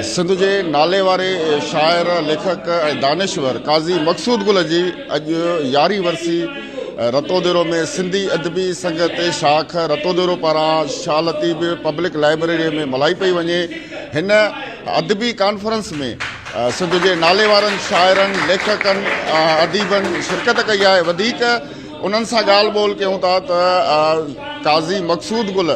سنڌ جي ناليواري شاعر، ليکڪ ۽ دانشور قاضي مقصود گل جي اڄ يارهين ورسي رتوديرو ۾ سنڌي ادبي سنگت شاخ رتوديرو پاران شاهه لطيف پبلڪ لائبريري ۾ ملهائي پئي وڃي هن ادبي ڪانفرنس ۾ سنڌ جي ناليوارن شاعرن ليکڪن ۽ اديبن شرڪت ڪئي آهي وڌيڪ انهن سان ڳالهه ٻولهه ڪيون ٿا ته قاضي مقصود گل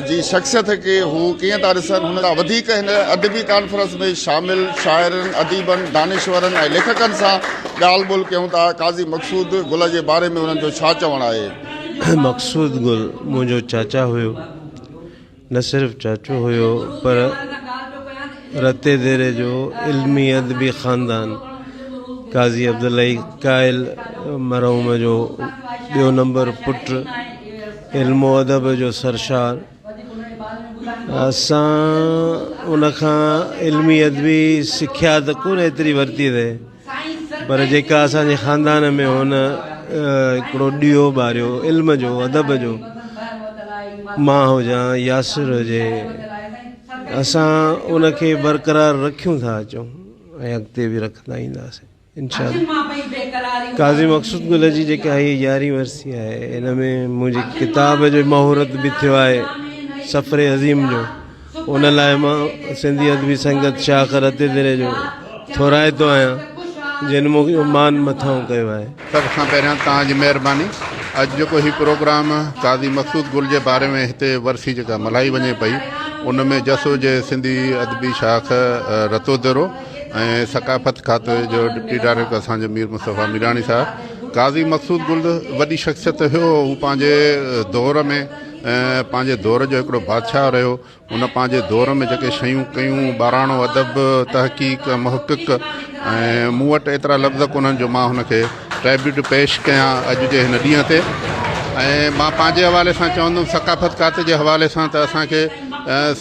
جي شخصيت کي هو ڪيئن ٿا ڏسن هن کان وڌيڪ هن ادبي ڪانفرنس ۾ شامل شاعرن اديبن دانشورن ۽ ليکڪن سان ڳالهه ٻولهه ڪيون ٿا قاضي مقصود گل جي باري ۾ انهن جو ڇا چوڻ آهي مقصود گل منهنجو چاچا هيو نه صرف چاچو هيو پر رتي ديري جو علمي ادبي خاندان قاضي عبداللهي قائل مرحوم جو ٻيو نمبر پٽ علم و ادب جو سرشار اسان ان کان علمي ادبي سکيا ته ڪونه ايتري ورتي اٿئي پر جيڪا اسان جي خاندان ۾ هن هڪڙو ڏيئو ٻاريو علم جو ادب جو مان هجان ياسر هجي اسان ان کي برقرار رکيون ٿا اچون ۽ اڳتي به رکندا اينداسين انشاء الله قاضي مقصود گل جي جيڪا هي يارهين ورسي آهي ان ۾ منهنجي ڪتاب جو مهورت به ٿيو آهي سفر عظيم جو ان لاء مان سنڌي ادبي سنگت شاخ رتي دري جو ٿورائتو آهيان جن مون کي مان مٿانهون ڪيو آهي. سڀ کان پهريان توهان جي مهرباني اڄ جيڪو هي پروگرام قاضي مقصود گل جي باري ۾ هتي ورسي جيڪا ملهائي وڃي پئي ان ۾ جس هجي سنڌي ادبي شاخ رتو درو ۽ ثقافت کاتي جو ڊپٽي ڊائريڪٽر اسان جو مير مصطفيٰ ميراڻي صاحب قاضي مقصود گل وڏي شخصيت هيو هو پنهنجي دور ۾ پنهنجي دور جو هڪڙو بادشاهه رهيو ان پنهنجي دور ۾ جيڪي شيون ڪيون ٻاراڻو ادب تحقيق محقق ۽ مون وٽ ايترا لفظ ڪونهن جو مان هن کي ٽريبيوٽ پيش ڪيان اڄ جي هن ڏينهن تي ۽ مان پنهنجي حوالي سان چوندم ثقافت کاتي جي حوالي سان ته اسان کي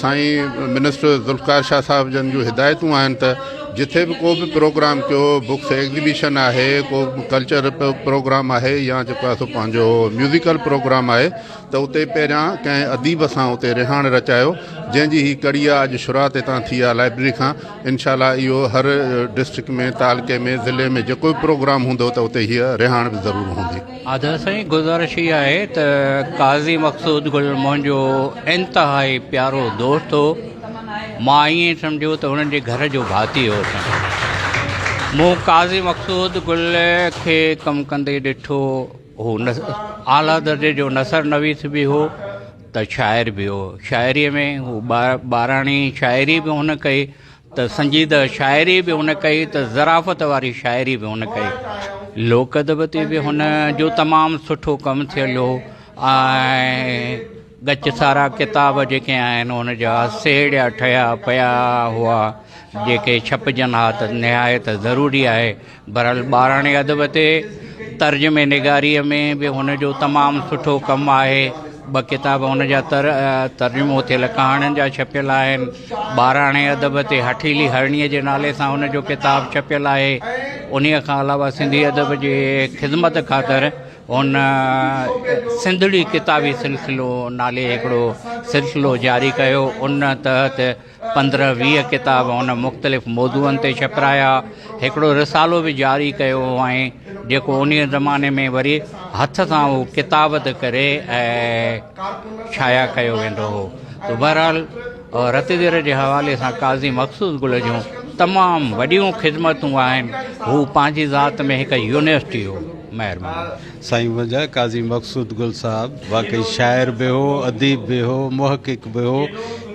سائين منسٽر ذوالفقار شاهه صاحب جن جون هدايتون آهن ته جٿي به ڪو به پروگرام ڪيو بڪس ايگزيبيشن آهي ڪو ڪلچر پروگرام آهي يا جيڪو اسو پنهنجو ميوزيڪل پروگرام آهي ته اتي پهريان ڪنهن اديب سان اتي رهاڻ رچايو جنهن جي هي ڪڙي آ اڄ شروعات هتان ٿي آ لائبرري کان انشاء الله اهو هر ڊسٽرڪٽ ۾ تعلقي ۾ ضلعي ۾ جيڪو به پروگرام هوندو ته اتي هيء رهاڻ به ضرور هوندي. آدر سائين گذارش هي آهي ته قاضي مقصود گل منهنجو انتهائي پيارو دوست هو مان ائين سمجهيو ته هنن جي گهر جو ڀاتي هوسان مون قاضي مقصود گل کي ڪم ڪندي ڏٺو هو اعليٰ درجي جو نثر نويس به هو ته شاعر به هو شاعريء ۾ هو ٻاراڻي شاعري به هن ڪئي ته سنجيده شاعري به هن ڪئي ته ظرافت واري شاعري به هن ڪئي لوڪ ادب تي به هن جو تمام سٺو ڪم ٿيل هو ۽ ڳچ سارا ڪتاب جيڪي آهن ان جا سيڙيا ٺهيا پيا هئا جيڪي ڇپجن ها ته نهايت ضروري آهي بھرحال ٻاراڻي ادب تي ترجمي نگاريء ۾ به هن جو تمام سٺو ڪم آهي. ٻه ڪتاب هن جا تر ترجمو ٿيل ڪهاڻين جا ڇپيل آهن. ٻاراڻي ادب تي هٺيلي هرڻيء جي نالي سان هن جو ڪتاب ڇپيل آهي. انهيء کان علاوه سنڌي ادب جي خدمت خاطر هن سنڌڙي ڪتابي سلسلو نالي هڪڙو سلسلو جاري ڪيو. ان تحت پندرهن ويهه ڪتاب هن مختلف موضوعن تي ڇپرايا. هڪڙو رسالو به جاري ڪيو هئائين، جيڪو انهيء زماني ۾ وري هٿ سان اهو ڪتابت ڪري ۽ شايع ڪيو ويندو هو. سو بهرحال رتدير جي حوالي سان قاضي مخصوص گل جون تمام وڏيون خدمتون آهن. هو پنهنجي ذات ۾ هڪ يونيورسٽي هو. مهرباني. سائين منهنجا قاضي مقصود گل صاحب واقعي شاعر به هو اديب به هو محقق به هو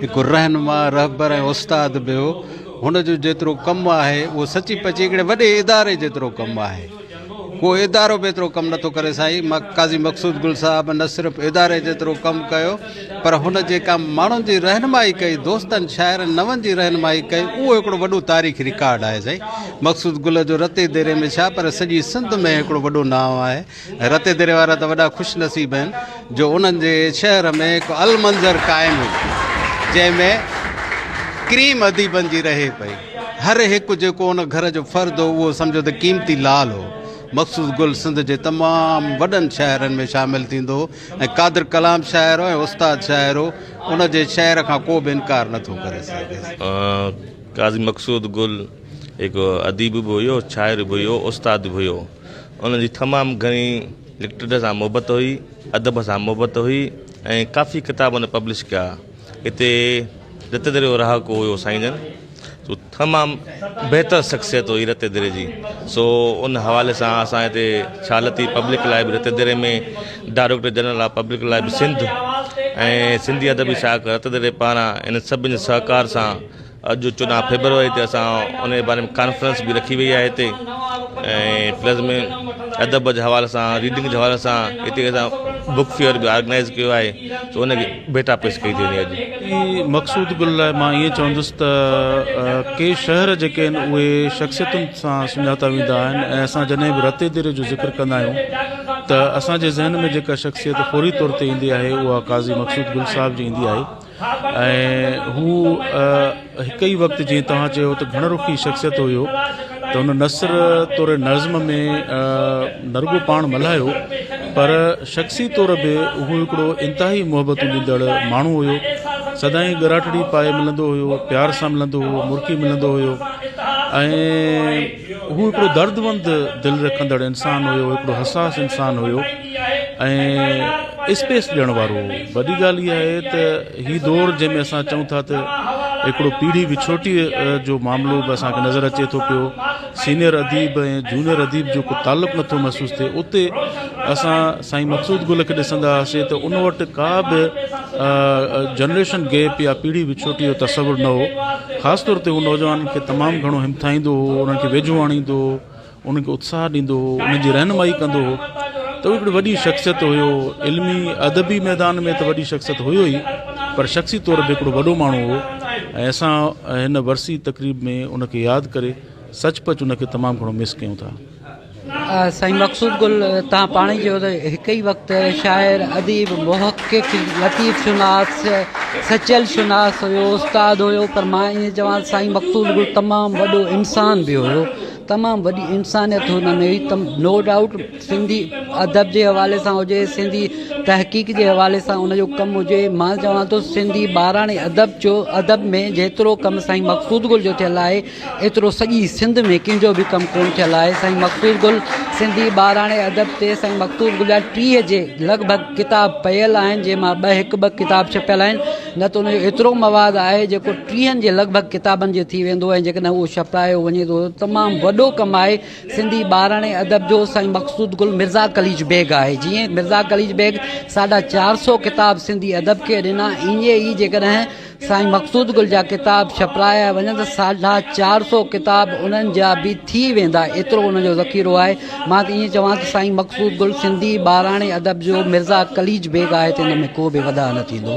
هڪ رهنما رهبر ۽ استاد به هو هن جو جيترو ڪم آهي اهو سچي پچي هڪڙي وڏي اداري جيترو ڪم آهي ڪو ادارو به ايترو ڪم نٿو ڪري سائين قاضي مقصود گل صاحب نه صرف اداري جيترو ڪم ڪيو پر هن جيڪا ماڻهن جي رهنمائي ڪئي، دوستن، شاعرن، نون جي رهنمائي ڪئي، اهو هڪڙو وڏو تاريخي رڪارڊ آهي سائين. مقصود گل جو رتي ديري ۾ ڇا پر سڄي سنڌ ۾ هڪڙو وڏو نانء آهي. رتي ديري وارا ته وڏا خوش نصيب آهن جو انهن جي شهر ۾ هڪ المنظر قائم هئي جنهن ۾ ڪريم اديبن جي رهي پئي. هر هڪ جيڪو ان گهر جو فرد هو اهو سمجهو ته قيمتي لال هو. مقصود گل سنڌ جي تمام وڏن شاعرن ۾ شامل ٿيندو هو. ۽ قادر ڪلام شاعر هو ۽ استاد شاعر هو، ان جي شعر کان ڪو به انڪار نه ٿو ڪري سگهي. قاضي مقصود گل هڪ اديب به هيو، شاعر به هيو، استاد به هيو. ان جي تمام گهڻي لٽريچر سان محبت هئي، ادب سان محبت هئي ۽ ڪافي ڪتاب هن پبلش ڪيا. هتي رت دريو رهاڪو هيو سائين جن سو تمام بهتر شخصيت هئي رت دري جي سو ان حوالي سان اسان هتي ڇالتي پبلڪ لاء به رت دري ۾ ڊائريڪٽر جنرل آف پبلڪ لاء به سنڌ ۽ سنڌي ادبي شاخ رت دري پاران ان سڀ سهڪار سان اڄ چوڏهن فيبروري تي اسان ان جي باري ۾ ڪانفرنس به رکي وئي آهي هتي ۽ پلس ۾ ادب جي حوالي سان ريڊنگ جي حوالي سان هتي اسان بڪ فيئر به آرگنائز ڪيو آهي سو ان جي ڀيٽا پيش ڪئي ٿي وڃي اڄ مقصود گل لاء مان ائين چوندس ته ڪي شهر جيڪي آهن اهي شخصيتن سان سڃاتا ويندا آهن ۽ اسان جڏهن به رتي ديري جو ذڪر ڪندا آهيون ته اسان جي ذهن ۾ جيڪا شخصيت فوري طور تي ايندي آهي اها قاضي مقصود گل صاحب جي ايندي آهي ۽ هو هڪ ئي وقت جيئن توهان چيو ته گهڻ رخي شخصيت هيو ته هن نثر طور نظم ۾ نه رڳو پاڻ ملهايو پر شخصي طور به هو هڪڙو انتهائي محبتون ڏيندڙ ماڻهو هيو سدائين ڳراٽڙي پائي ملندو هيو پيار سان ملندو هو مرڪي ملندو هيو ۽ هو هڪڙو دردمند دل رکندڙ انسان هيو هڪڙو حساس انسان هيو ۽ اسپيس ڏيڻ وارو هو. وڏي ڳالهه اها آهي ته هي دور جنهن ۾ اسان چئون ٿا ته هڪڙو پيڙهي وڇوٽي جو معاملو به اسان کي نظر اچي ٿو پيو. سينئر اديب ۽ جونئر اديب جو ڪو تعلق نٿو محسوس ٿئي. اتي اسان سائين مقصود گل کي ڏسندا هئاسين ته ان وٽ ڪا به جنريشن گيپ يا پيڙهي وڇوٽي جو تصور نه هو. خاص طور تي هو نوجوانن کي تمام گهڻو همٿائيندو هو، انهن کي ويجهو آڻيندو هو، انهن کي اتساهه ڏيندو هو، انهن جي رهنمائي ڪندو هو ته هو هڪڙي وڏي شخصيت هيو، علمي ادبي ميدان ۾ ته وڏي شخصيت هيو ئي پر شخصي طور به هڪڙو وڏو ماڻهو هو ۽ اسان هن ورسي تقريب ۾ ان کي ياد ڪري سچ پچ ان کي تمام گهڻو مس ڪيون ٿا. سائين مقصود گل توهان پاڻ ئي چيو ته هڪ ئي وقت شاعر، اديب، محقق، لطيف شناس، سچل شناس هيو، استاد هيو پر مان ائين چوان ته سائين مقصود گل تمام وڏو انسان به هيو. تمام وڏي انسانيت هن ۾ هئي تم نو ڊائوٽ سنڌي ادب جي حوالي سان هجي سنڌي تحقيق جي حوالي سان ان جو ڪم هجي مان چوان ٿو سنڌي ٻاراڻي ادب جو ادب ۾ جيترو ڪم سائين مقصود گل جو ٿيل آهي ايترو سڄي سنڌ ۾ ڪنهن جو به ڪم ڪون ٿيل آهي سائين مقصود گل سنڌي ٻاراڻي ادب تي سائين مقصود گل جا ٽيهه جي لڳ ڀڳ ڪتاب پيل آهن جنهن مان ٻه هڪ ٻه ڪتاب ڇپيل آهن نه ته ان جو ايترو مواد آهي جيڪو ٽيهن جي لڳ ڀڳ ڪتابن جي ٿي ويندو ۽ جيڪڏهن اهو ڇپرايو وڃي ٿو ته تمام وڏو ڪم آهي سنڌي ٻاراڻي ادب جو سائين مقصود گل مرزا قليچ بيگ آهي جنهن مرزا قليچ بيگ ساڍا چار سئو ڪتاب سنڌي ادب کي ڏنا ائين ئي جيڪڏهن سائين مقصود گل جا ڪتاب ڇپرايا وڃن ته ساڍا چار سئو ڪتاب انهن جا به ٿي ويندا ايترو ان جو ذخيرو آهي مان ته ائين چوان ته سائين مقصود گل سنڌي ٻاراڻي ادب جو مرزا قليچ بيگ آهي ته ان ۾ ڪو به وڌاء نه ٿيندو.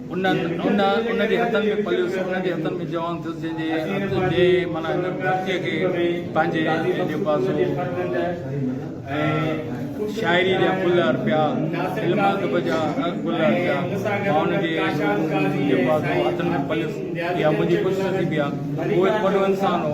انهن انهن جي هٿن ۾ پليس انهن جي هٿن ۾ جوان ٿيس جنهن جي هٿ جي معنيٰ هن ڌرتيء کي پنهنجي لباسو ۽ شاعري جا ڦل ارپيا علم ادب جا گل ارپيا ماڻهن جي لباسو هٿن ۾ پليس اها منهنجي خوش نصيبي آهي هو هڪ وڏو انسان هو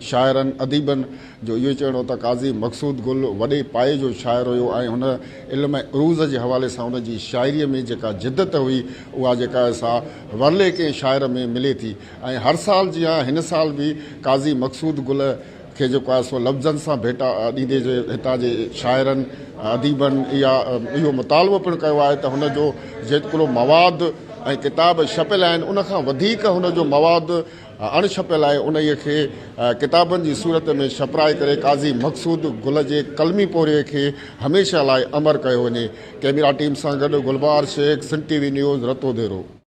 شاعرن اديبن جو اهو ئي چوڻ هو ته قاضي مقصود گل وڏي پايي جو شاعر هيو ۽ هن علم ۽ عروض جي حوالي سان هن جي شاعريء ۾ جيڪا جدت هئي اها جيڪا آهي سا ورلي ڪنهن شاعر ۾ ملي ٿي ۽ هر سال جيان هن سال به قاضي مقصود گل کي جيڪو آهي سو لفظن سان ڀيٽا ڏيندي جي هتان جي شاعرن اديبن اها اهو مطالبو پڻ ڪيو آهي ته هن جو جيترو مواد ۽ ڪتاب ڇپيل آهن ان کان وڌيڪ هن جو مواد اڻ ڇپيل آهي انهيء کي ڪتابن جي صورت ۾ ڇپرائي ڪري قاضي مقصود گل جي قلمي پورهيي کي هميشه لاء امر ڪيو وڃي. ڪئميرا ٽيم سان گڏ Gulbar Shaikh, Sindh T V news, Ratodero.